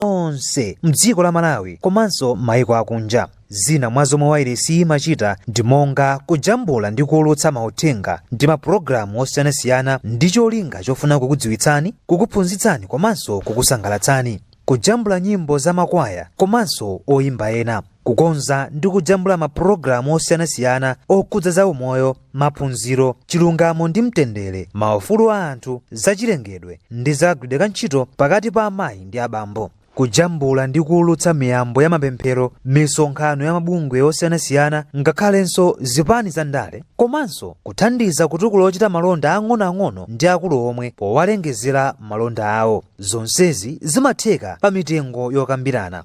onse mdziko la malawi komanso mmaiko akunja zina mwa zomwe wairesi imachita ndi monga kujambula ndi kuulutsa mauthenga ndi mapulogalamu osiyanasiyana ndi cholinga chofuna kukudziwitsani kukuphunzitsani komanso kukusangalatsani kujambula nyimbo za makwaya komanso oyimba ena kukonza ndi kujambula mapulogalamu osiyanasiyana okhudza zaumoyo maphunziro chilungamo ndi mtendere maufulu a anthu zachilengedwe ndi za kagwiridwe ka ntchito pakati pa amayi ndi abambo kujambula ndi kuulutsa miyambo ya mapemphero misonkhano ya mabungwe osiyanasiyana ngakhalenso zipani za ndale komanso kuthandiza kutukula ochita malonda ang'onoang'ono ndi akulu omwe powalengezera malonda awo zonsezi zimatheka pa mitengo yokambirana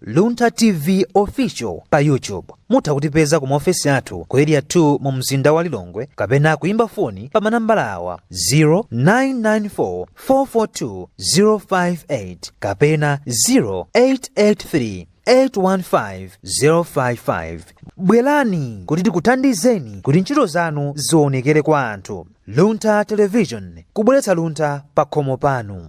Luntha TV Official pa YouTube. Mutha kutipeza ku maofesi athu ku Area 2 mu mzinda wa Lilongwe kapena kuimba foni pa manambala awa 0994 442 058 kapena 0883 815 055 bwerani kuti tikuthandizeni kuti ntchito zanu zionekere kwa anthu luntha television kubweretsa luntha pa khomo panu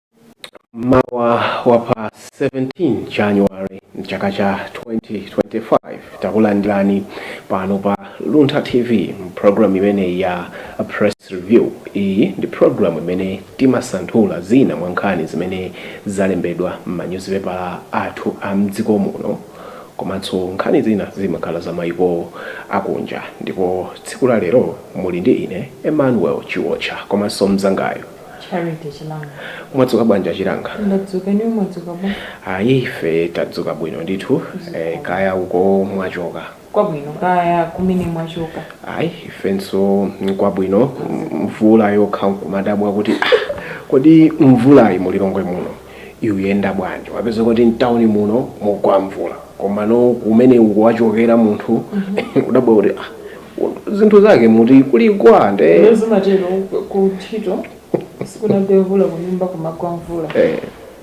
Mmawa wa pa 17 January mchaka cha 2025 takulandirani pano pa Luntha TV program imene ya press review. Iyi ndi program imene timasanthula zina mwa nkhani zimene zalembedwa m'manyuzipepala athu a mdziko muno komanso nkhani zina zimakhala za maiko akunja ndipo tsiku la lero muli ndi ine Emmanuel Chiwocha komanso mzangayo Charity Chilanga. mwadzuka bwanji achilanga Ndadzuka inu mwadzuka bwa. ayi ife tadzuka bwino ndithu eh, kaya uko mwachoka Kwabwino kaya kumene mwachoka. ayi ifenso nkwabwino mvula yokha nkumadabwa kuti "Ah, kodi mvulayi mulilongwe muno ikuyenda bwanji wapezeka kuti mtauni muno mugwa mvula komano kumene uko wachokera munthu kudabwa kuti ah, zinthu zake muti kuligwa nde Lero zimatero ku ntchito sikunagwe mvula kunyumba kumagwa mvula eh,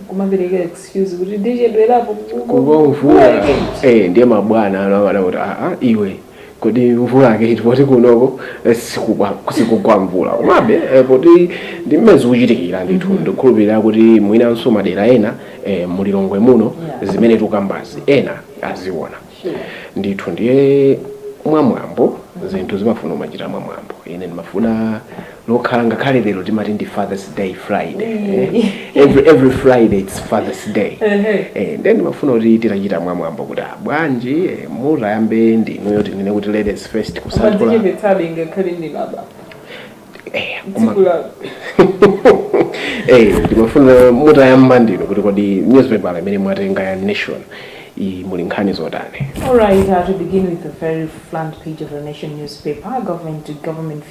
kumapereka excuse kuti ndichedwerapo kugwa mvula eh, ndiye mabwana ano amadabwa kuti ah, ah, iwe kodi mvula yake iti poti kunoko eh, sikugwa sikugwa mvula komabe eh, poti ndi mmene zikuchitikira ndithu mm -hmm. ndikhulupirira kuti mwinanso madera ena eh, mulilongwe muno yeah. zimene tukambazi ena aziona sure. ndithu ndiye mwamwambo zinthu zimafuna umachita mwamwambo ine ndimafuna lokhala ngakhale lero timati ndi fathers day friday eh? every, every friday its fathers day eh, nde ndimafuna kuti titachita mwamwambo kuti ah, bwanji eh, mutayamba ndinuyo tinene kuti ladies first kusanthula Mwadzichepetsabe ngakhale ndinaba. eh, koma- Tsiku la- Eh, ndimafuna mutayamba ndinu kuti kodi newspaper imene mwatenga ya nation iyi muli nkhani zotani All right, uh, to begin with the very front page of the Nation newspaper, government to government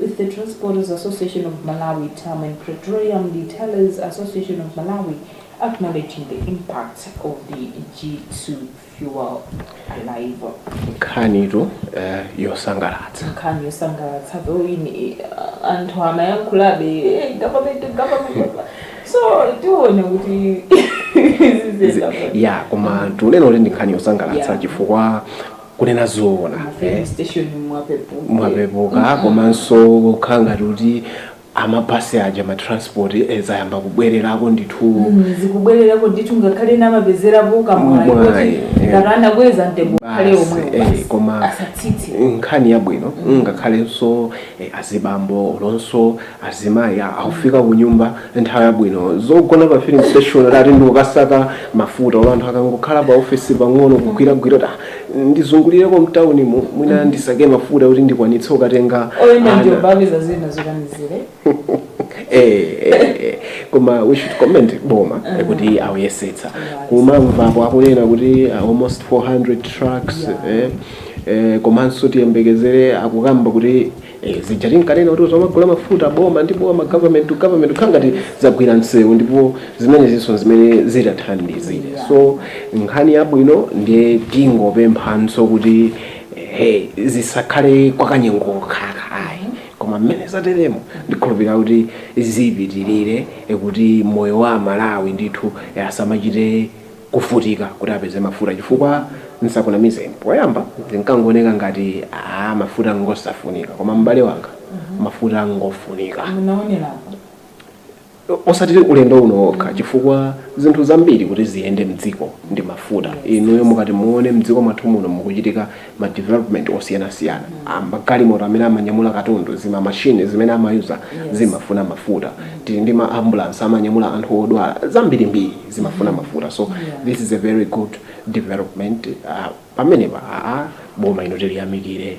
with the Transporters Association of Malawi, TAM, and Petroleum Retailers Association of Malawi, acknowledging the impact of the G2G fuel arrival. nkhanitu eh, yosangalatsa nkhani yosangalatsa though ine anthu amayankhulabe "Eh, government government so tione kuti ziziyenda bwanji. ya koma tinene kuti ndi nkhani yosangalatsa Yeah. chifukwa kunena zoona eh? station mwapepuka komanso kukhala ngati kuti amabhasi aja matransport eh, zayamba kubwererako ndithu zikubwererako ndithu ngakhale ena amapezerapo kamwayi Mwayi, kuti eh. ngati anakweza mtengo kale Basi, omwewo eh, basi. koma asatsitse nkhani yabwino ngakhalenso eh, azibambo olonso Azimayi akufika kunyumba nthawi yabwino. Zogona pa filling station oti ati ndikukasaka mafuta olo anthu akangokhala pa office pang'ono kugwiragwira kuti ah ndizungulireko mtaunimu mwina ndisake mafuta oti ndikwanitse kukatenga oyenda ana. ndiye apeza zina zokanizira Eh, eh, eh. koma we should comment boma eh, kuti akuyesetsa kumamvapo akunena kuti ah, almost 400 trucks eh, eh, komanso tiyembekezere akukamba kuti Eh, zija tinkanena kuti tizimagula mafuta boma ndi boma government to government kukhala ngati zagwira msewu ndipo zimenezinso zimene zitathandizire so nkhani yabwino ndiye tingopemphanso kuti hey, zisakhale kwakanyengo kokha ayi koma mmene zateremo ndikhulupirira kuti zipitirire eh, kuti moyo wa amalawi ndithu eh, asamachite kuvutika kuti apeze mafuta chifukwa nsakunamizeni poyamba zinkangooneka ngati aah mafuta ngosafunika koma m'bale wanga mafuta ngofunika munaonerapo osati ulendo uno wokha chifukwa zinthu zambiri kuti ziyende mdziko ndi mafuta inuyo mukati muone mdziko mwathu muno mukuchitika ma development osiyanasiyana magalimoto amene amanyamula katundu, zima machine zimene amayuza zimafuna mafuta. Tili ndi ma ambulance amanyamula anthu odwala, zambirimbiri zimafuna mafuta. So this is a very good development. Pamenepa, aa, boma ino tiliyamikire.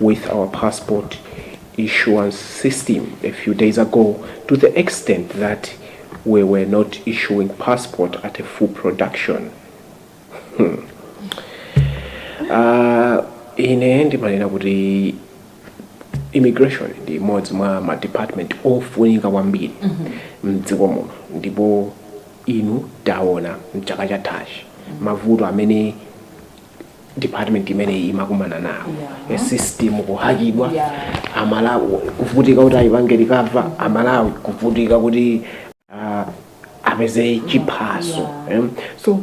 with our passport issuance system a few days ago to the extent that we were not issuing passports at a full production hmm. uh, ine ndimanena kuti immigration ndi imodzi mwa ma department ofunika kwambiri mdziko muno ndipo inu taona mchaka chathachi mavuto amene department imeneyi imakumana nawo yeah. system kuhakidwa yeah. amalawi kuvutika kuti ayipange recover amalawi kuvutika kuti uh, apeze chiphaso yeah. um, so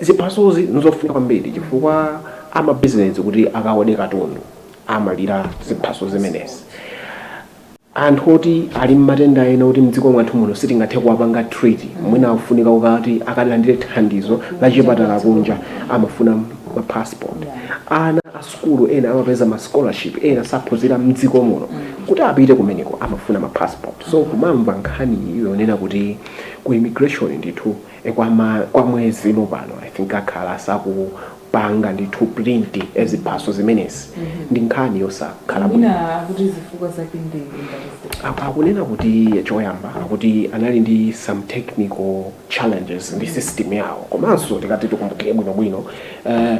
ziphasozi nizofunika kwambiri chifukwa amabizinesi kuti akaode katundu amadalira ziphaso zimenezi anthu oti ali mmatenda ena oti mdziko mwathu muno sitingathe kuwapanga treat mwina akufunika kuti akalandire thandizo la chipatala kunja amafuna ma passport. Ana a sukulu ena amapeza ma scholarship ena saphunzira mdziko muno kuti apite kumeneko amafuna ma passport. So kumamva nkhani iyi yonena kuti ku immigration ndithu kwa ma kwa mwezi uno pano I think akhala asaku. panga ndithu print ziphaso zimenezi ndi nkhani yosakhala bwino mwina akuti zifukwa zake ndi ngati ziti Apa akunena kuti choyamba akuti anali ndi some technical challenges ndi system yawo komanso tikati tikumbukire bwinobwino uh,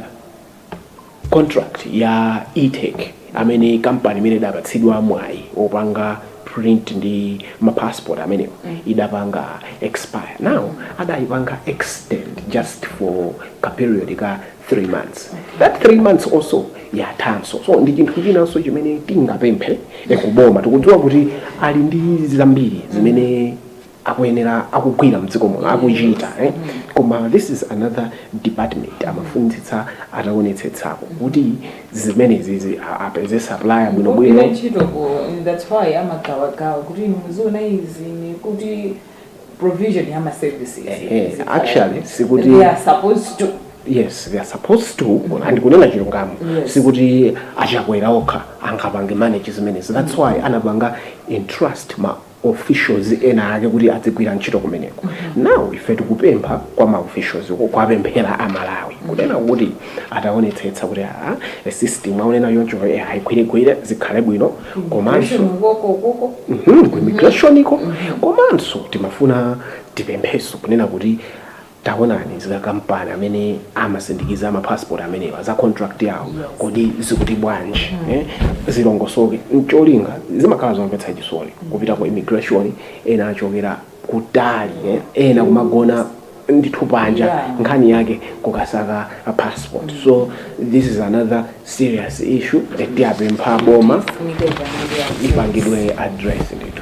contract ya etech amene kampani imene idapatsidwa mwayi opanga print ndi ma passport amenewa idapanga expire now adayipanga extend just for ka period ka 3 months that 3 months also yathanso so ndi chinthu chinanso chimene tingapemphe eh, kuboma tikudziwa kuti ali ndi zambiri zimene akuyenera akugwira mdziko muno akuchita eh? koma this is another department amafunitsitsa ataonetsetsako kuti zimenezizi a- apeze supplier bwinobwino ntchitoko that's why amagawagawa kuti inu muziona izi ni kuti provision ya maservices Ehe, Zikhala. actually, sikuti- And they are supposed to yes they are supposed to and kunena chilungamo Yes. sikuti a Chakwera okha angapange manage zimenezi that's why anapanga entrust ma officials ena ake kuti adzigwira ntchito kumeneko now ife tikupempha kwa ma officials ko kuwapemphera a Malawi kunena kuti ataonetsetsa kuti a a system mwaonena choncho eh, ayigwiregwire zikhale bwino komanso Mhm, ku immigration iko komanso timafuna tipempheso kunena kuti Taonani zika kampani amene amasindikiza ma passport amenewa za contract yawo kodi zikuti bwanji eh? Zilongosoke ncholinga zimakhala zomvetsa chisoni kupita ku immigration ena achokera kutali eh? Ena kumagona ndithu panja Yeah. nkhani yake kukasaka ma passport so this is another serious issue eh, tiyapempha boma ipangidwe address ndithu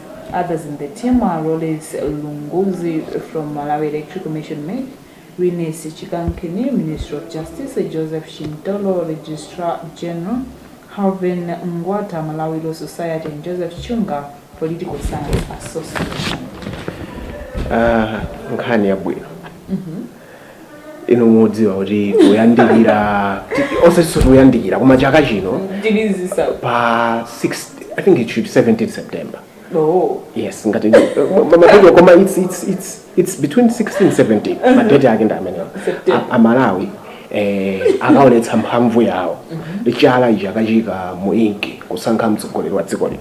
Others in the team are Rollins Lunguzi from Malawi Electric Commission MEC, Riness Chikankini, Ministry of Justice, Joseph Shintolo, Registrar General, Harvin Ngwata, Malawi Law Society, and Joseph Chunga, Political Science Association. Ah, nkhani yabwino inu mudziwa kuti kuyandikira osati kuyandikira koma chaka chino ndilizisa pa 6 i think it should be 17 september oh yes ngati mapedyo koma it's, it's, it's, it's between 16 17 madeti ake ndi amenewa September. A- amalawi eh, akaonetsa mphamvu yawo chala ichi akaviika mu inki kusankha mtsogoleri wa dziko lino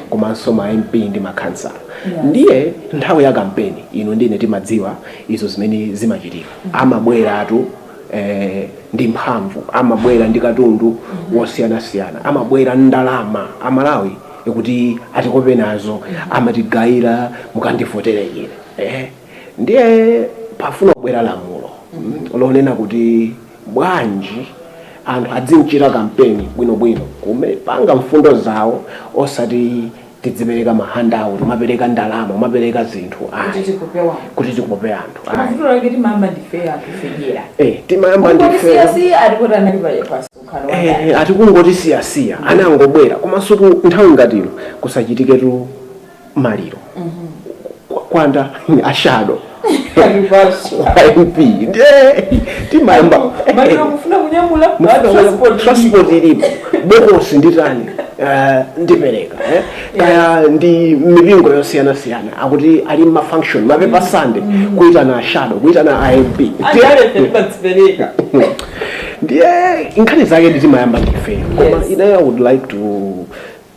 komanso ma mp ndi makhansala ndiye nthawi ya kampeni ino ndine timadziwa izo zimene zimachitika amabweratu eh, ndi mphamvu amabwera ndi katundu wosiyanasiyana amabwera ndi ndalama amalawi kuti atikope nazo amatigayira mukandivotere ine eh, ndiye pafuna kubwera lamulo mm, lonena kuti bwanji anthu adzichita kampeni bwinobwino kumapanga mfundo zawo osati tidzipereka ma handout umapereka ndalama umapereka zinthu kuti ayi tikope anthu kuti tikope anthu koma ayi vuto lake timayamba ndife anthu federa eh timayamba kungoti ndife siyasiya ali kuti anali pa msonkhano wakale Eh, ati kungoti siyasiya anangobwera komanso tu nthawi ngati ino kukachitikatu maliro Kwa- kwa ashado mp ndiye timayamba transport ilipo bokosi nditenga eh, ndipereka eh. kaya ndi mipingo yosiyanasiyana akuti ali mafunction mapepa sande kuitana ashado kuitana a mp ndiye nkhani zake nditimayamba ndife koma Yes. ine i would like to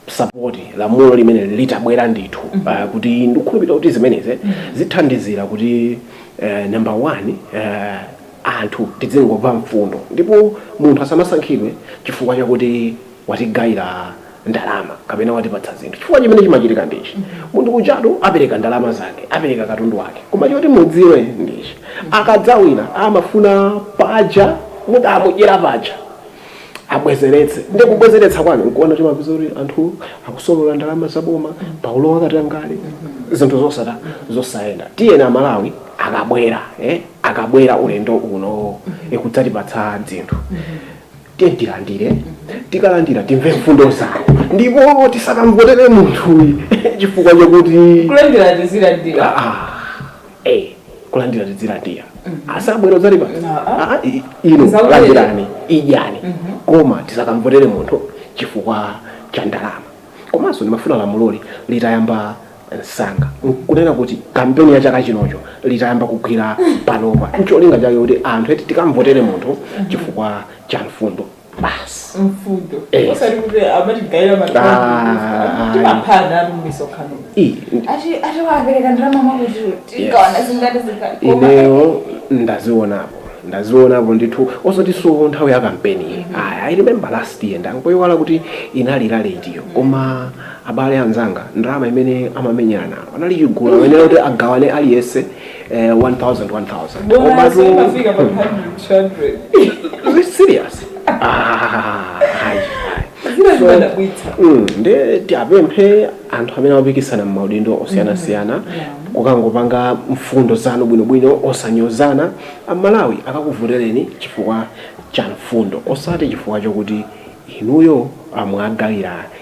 support lamulo limeneli litabwera ndithu mm -hmm. uh, kuti ndikukhulupirira kuti zimenezi mm -hmm. zithandizira kuti uh, number one uh, anthu tidzingomva mfundo ndipo munthu asamasankhidwe chifukwa chakuti watigayira ndalama kapena watipatsa zinthu chifukwa chimene chimachitika ndichi mm -hmm. munthu ujatu apereka ndalama zake apereka katundu wake koma choti mudziwe ndichi mm -hmm. akadzawina amafuna paja mudamudyera paja abwezeretse ndi kubwezeretsa kwake nkuona timapeza kuti anthu akusolola ndalama za boma palowa katangale zinthu zosata zosayenda tiyeni amalawi akabwera eh? akabwera ulendo uno kudzatipatsa zinthu tiye tilandire tikalandira timve mfundo zawo ndipo tisakamvotere munthuyi chifukwa chokuti kulandira tizilandira Ah, a kulandira tidzilandira akabwera adzatipatsa Ah, i- ino Tisaulire. landirani idyani koma tisakamvotere munthu chifukwa cha ndalama komanso ndimafuna lamuloli litayamba msanga kunena kuti kampeni ya chaka chinochi litayamba kugwira panopa ncholinga chake kuti anthu eti tikamvotere munthu chifukwa cha mfundo basi mfundo Eh. osati kuti amatigayira Ah, ah, timaphana mumisonkhano Ii, ati ati wapereka ndalama mwakuti tigawana zingati zingati koma ineyo ndazionapo ndazionapo ndithu osatinso nthawi ya kampeni iyi aya i remember last year ndangoiwala kuti inali rally itiyo koma abale anzanga ndalama imene amamenyana nayo anali chigulu amayenera kuti agawane aliyense eh, 1000 1000 Bonasi Komatu- imafika pa 100 200 Is it serious Ah, ayi, ayi. zina zimadabwitsa Mm, nde tiapemphe anthu amene akupikisana m'maudindo osiyanasiyana mukangopanga mfundo zanu bwinobwino osanyozana amalawi akakuvotereni chifukwa cha mfundo osati chifukwa chokuti inuyo mwawagawira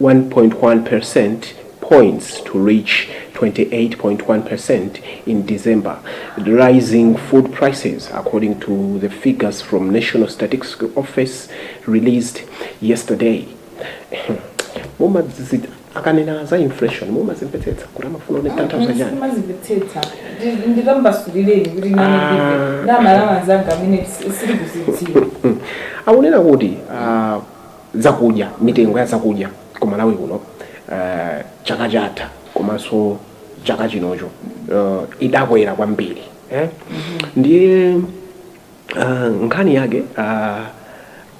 1.1 percent points to reach 28.1 percent in December, rising food prices, according to the figures from National Statistical Office released yesterday. Mumazi akanena za inflation mumazimvetsetsa kuti amafuna kutanthauza chani mumazimvetsetsa ndikumasulireni kuti amalawi anzanga amene sakuzidziwa akunena kuti ah, zakudya mitengo ya zakudya ku malawi kuno uh, chaka chatha komanso chaka chinochi uh, idakwera kwambiri eh? ndiye uh, nkhani yake uh,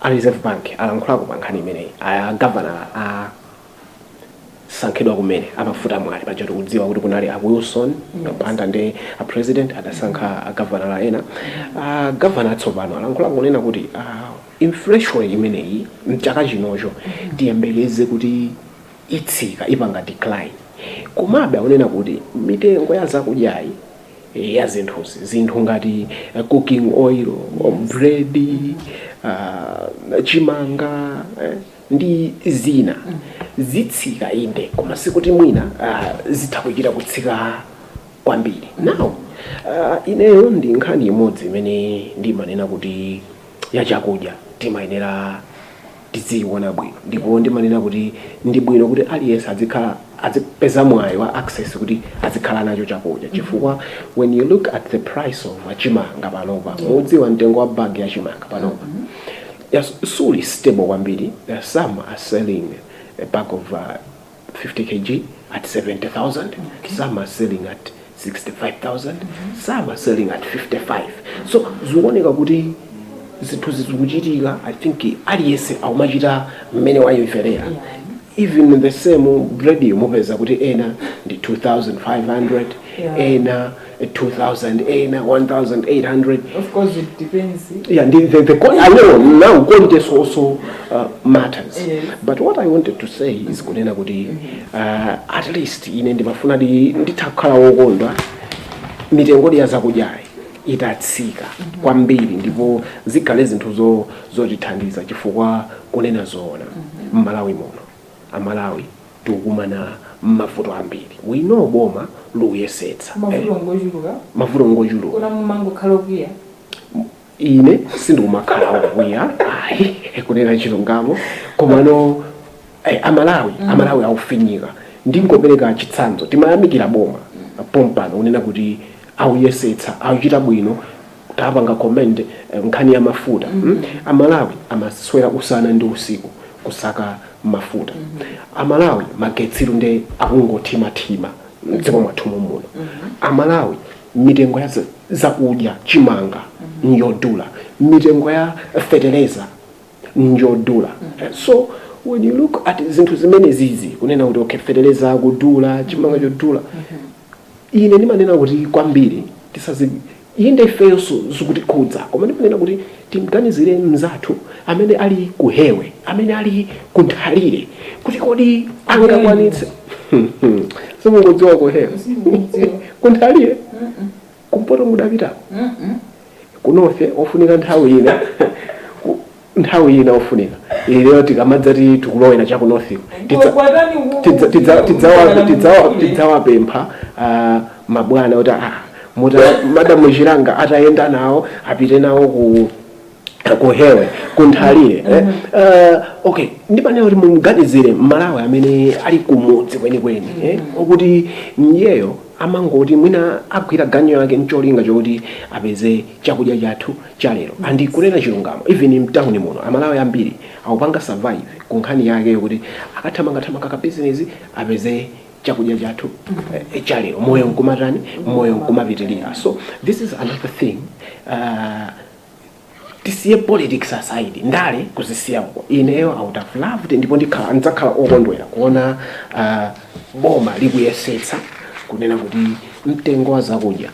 a reserve bank alankhulako pa nkhani imeneyi a governor asankhidwa kumene a Mafuta Mwale paja tikudziwa kuti kunali a wilson banda ndiye a president adasankha a governor ena a governor atsopano alankhulako kunena kuti ah, Inflation imeneyi m'chaka chinochi tiyembekeze kuti itsika, ipanga decline. Komabe akunena kuti mitengo ya zakudyazi ya zinthuzi, zinthu ngati cooking oil, bread, chimanga ndi zina zitsika inde koma sikuti mwina zitha kuchita kutsika kwambiri. Now ineyo ndi nkhani imodzi imene ndimanena kuti. ya chakudya timayenera tidziyiona bwino ndipo ndimanena kuti ndi bwino kuti aliyense adzikhala adzipeza mwayi wa access kuti adzikhala nacho chakudya chifukwa when you look at the price of chimanga panopa mukudziwa mtengo wa bag ya chimanga panopa yes, suli stable kwambiri There are some who are selling a bag of uh, 50 kg at 70,000, okay. some are selling at 65,000, mm -hmm. some are selling at 55. So zikuoneka kuti zinthu zikuchitika I think aliyense akumachita mmene wayimverera even in the same bread mupeza kuti ena ndi 2500 yeah. ena 2000 ena 1800 of course it depends yeah the, the, the quality, i know now quality also uh, matters yes. but what i wanted to say is kunena kuti uh, at least ine ndimafuna nditakhala wokondwa mitengo ya zakudyayi itatsika kwambiri ndipo zikhale zinthu zo- zotithandiza chifukwa kunena zoona mmalawi muno amalawi tikukumana mmavuto ambiri we know boma likuyesetsa mavuto ngochuluka mavuto ngochuluka nkona mumangokhala okwiya ine sindikumakhala okwiya ayi kunena chilungamo komano eh, amalawi amalawi aufinyika ndingopereka chitsanzo timayamikira boma pompano unena kuti auyesetsa auchita bwino tapanga commend nkhani ya mafuta mm -hmm. amalawi amaswera usana ndi usiku kusaka mafuta mm -hmm. amalawi magetsi nde akungothimathima mdziko mwathu muno mm -hmm. amalawi mitengo ya za- zakudya chimanga mm -hmm. njodula mitengo ya fetereza njodula so when you look at zinthu zimene zizi kunena kuti okay fetereza akudula chimanga chodula Ine ndimanena kuti kwambiri tisazi, inde ifeyonso zikutikhudza, koma ndimanena kuti tim'ganizire mnzathu amene ali ku hewe, amene ali ku nthalire, kuti kodi angakwanitse? Simungodziwa ku hewe? Ku nthalire? Kumpoto mudapitako? Kunofe ofunika nthawi ina nthawi ina ofunika ineyo tikamadzati tikulowera cha ku northiko tidzawapempha ah, mabwana kuti ah, madamu chilanga atayenda nawo apite nawo ku kuhewe kunthalire eh? uh, okay ndimanena kuti mumganizire mmalawi amene ali kumudzi kwenikweni eh? okuti myeyo amangoti mwina agwira ganyu yake ncholinga chokuti apeze chakudya chathu chalero andi kunena chilungamo even mtawuni muno amalawi ambiri akupanga survive ku nkhani yake yokuti akathamangathamanga kabizinesi apeze chakudya chathu eh, chalero moyo nkumatani moyo nkumapitirira so this is another thing uh, tisiye politics aside ndale kuzisiya uko ineyo i would have loved ndipo ndikhala ndidzakhala okondwera kuona ah, boma likuyesetsa kunena kuti mtengo wa zakudya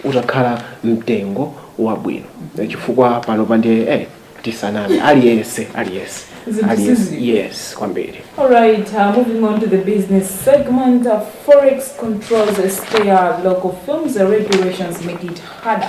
utakhala mtengo wabwino chifukwa panopa nde eh, tisaname aliyense aliyense Zinthu aliyense sizili. yes kwambiri All right, uh, moving on to the business segment. Uh, Forex controls scare local firms. The regulations make it harder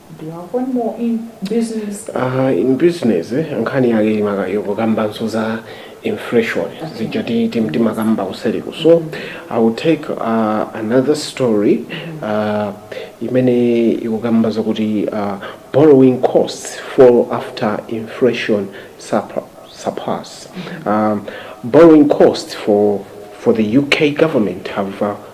Do you have one more in business? Uh, in business eh, nkhani yake imaka yokukambanso za inflation zija ti- ti- timakamba kuseliku so i will take uh, another story uh, imene ikukamba zakuti uh, borrowing costs fall after inflation surpa- surpass um, borrowing costs for for the UK government have uh,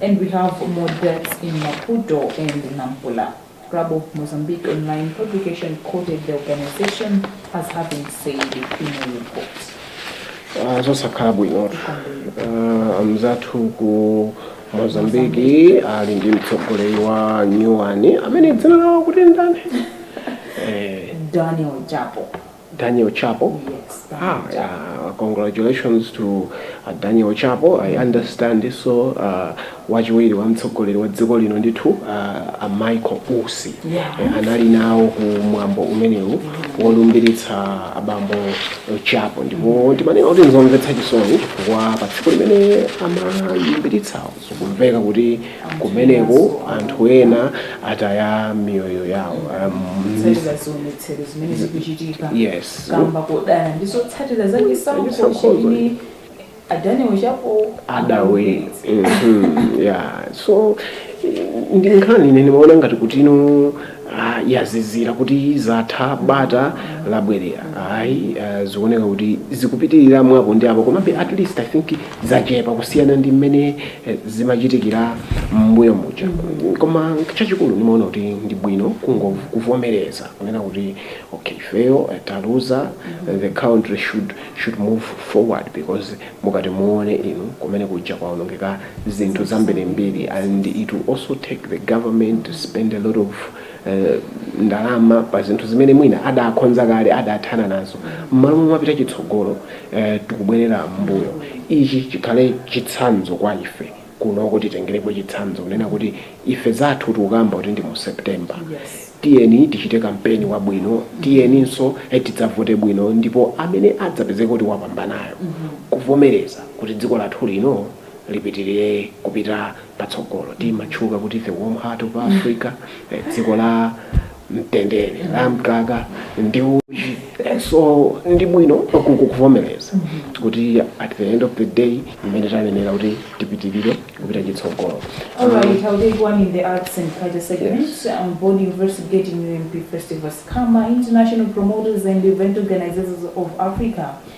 and we have more deaths in Maputo and Nampula. Club of Mozambique online publication quoted the organization as having said in a report. Ah, zosakhala bwino Ah, amzathu ku Mozambique ali ndi mtsogoleri wa nyuwani amene dzina lawo akuti ndani Eh, Daniel Chapo. Daniel Chapo. Ah, yeah. Congratulations to uh, Daniel Chapo. I understand so uh, wachiwiri wa mtsogoleri wa dziko lino ndithu uh, a Michael Usi Yeah. Eh, anali nawo ku mwambo umenewu wolumbiritsa abambo Chapo ndipo ndimanena kuti nzomvetsa chisoni chifukwa pa tsiku limene amalumbiritsawo Zikumveka kuti kumeneko anthu ena ataya miyoyo yawo. Um, Kutsatira zionetsero zimene zikuchitika yes. kamba kodana ndi zotsatira za chisankho Chisankhozo. chimene a Daniel Chapo adawina Mhm, yeah so ndi nkhani ine ndimaona ngati kuti mwina ah, yazizira kuti zatha bata labwerera ayi ah, zikuoneka kuti zikupitirira mwapo ndi apo komabe at least i think zachepa kusiyana ndi mmene eh, zimachitikira mmbuyo muja koma chachikulu ndimaona kuti ndi bwino kungo- kuvomereza kunena kuti okay ifeyo eh, taluza eh, the country should, should move forward because mukati muone inu kumene kujaku kwaonongeka zinthu zambirimbiri and it will also take the government to spend a lot of ndalama pa zinthu zimene mwina adakonza kale adathana nazo mmalo mopita chitsogolo tikubwerera mmbuyo ichi chikhale chitsanzo kwa ife kunoko titengerepo chitsanzo kunena kuti ife zathu tikukamba kuti ndi mu September tiyeni tichite kampeni wabwino tiyeninso tidzavote bwino ndipo amene adzapezeke kuti wapambanayo kuvomereza kuti dziko lathu lino lipitirire kupita patsogolo. Timatchuka kuti the warm heart of Africa, dziko la mtendere, la mkaka ndi uchi. So ndi bwino kuvomereza kuti at the end of the day mmene tanenera kuti tipitirire kupita chitsogolo. All right, I'll take one in the arts and culture segment. Yes. Um, Board investigating UMP Festival scammer. International promoters and event organizers of Africa.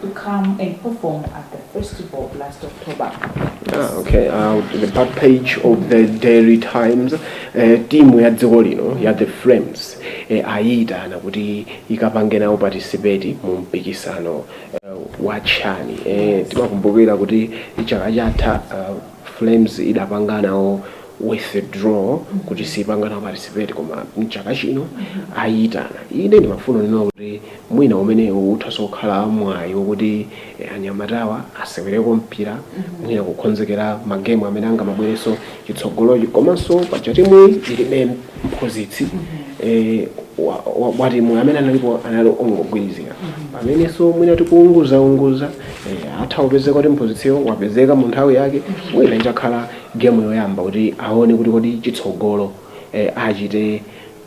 to come and perform at the festival last October. Ah, okay uh, the back page of the daily times eh, timu ya dziko lino ya the flames eh, ayitana kuti ikapange nawo participate mu mpikisano eh, wa CHAN eh, timakumbukira kuti chaka chatha uh, flames idapanga nawo withdraw kuti sipanga nawo participate koma mchaka chino ayitana ine ndimafuna ndinena kuti Mwina umenewu uthanso kukhala mwayi wokuti anyamatawa asewereko mpira, mwina kukonzekera ma game amene angamabwerenso chitsogolochi komanso paja timuyi ilibe mphunzitsi watimuyi amene analipo anali ongogwirizira pamenenso mwina tikuunguzaunguza atha kupezeka kuti mphunzitsiyo wapezeka mu nthawi yake mwina itakhala game yoyamba kuti awone kuti kodi chitsogolo achite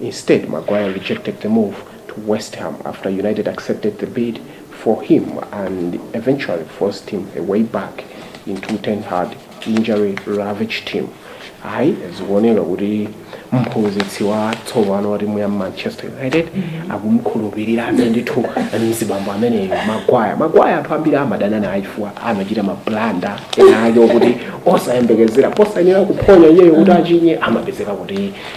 Instead, Maguire rejected the move to West Ham after United accepted the bid for him and eventually forced his way back into Ten Hag injury ravaged team. Ayi zikuoneka kuti mphunzitsi wa tsopano wa timu ya Manchester United akumkhulupirira ndithu mzibambo ameneyu Maguire. Maguire anthu ambiri amadana naye chifukwa amachita mablanda ena ake okuti osayembekezera posayenera kuphonya iyeyo kuti achinye amapezeka kuti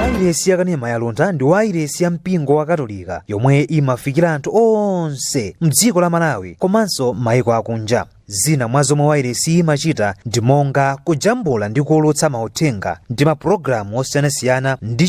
wairesi yakanema ya Luntha ndi wairesi ya mpingo wa katolika yomwe imafikira anthu onse mdziko la malawi komanso maiko akunja zina mwa zomwe wairesi imachita ndi monga kujambula ndi kuwulutsa mauthenga ndi mapulogalamu osiyanasiyana ndi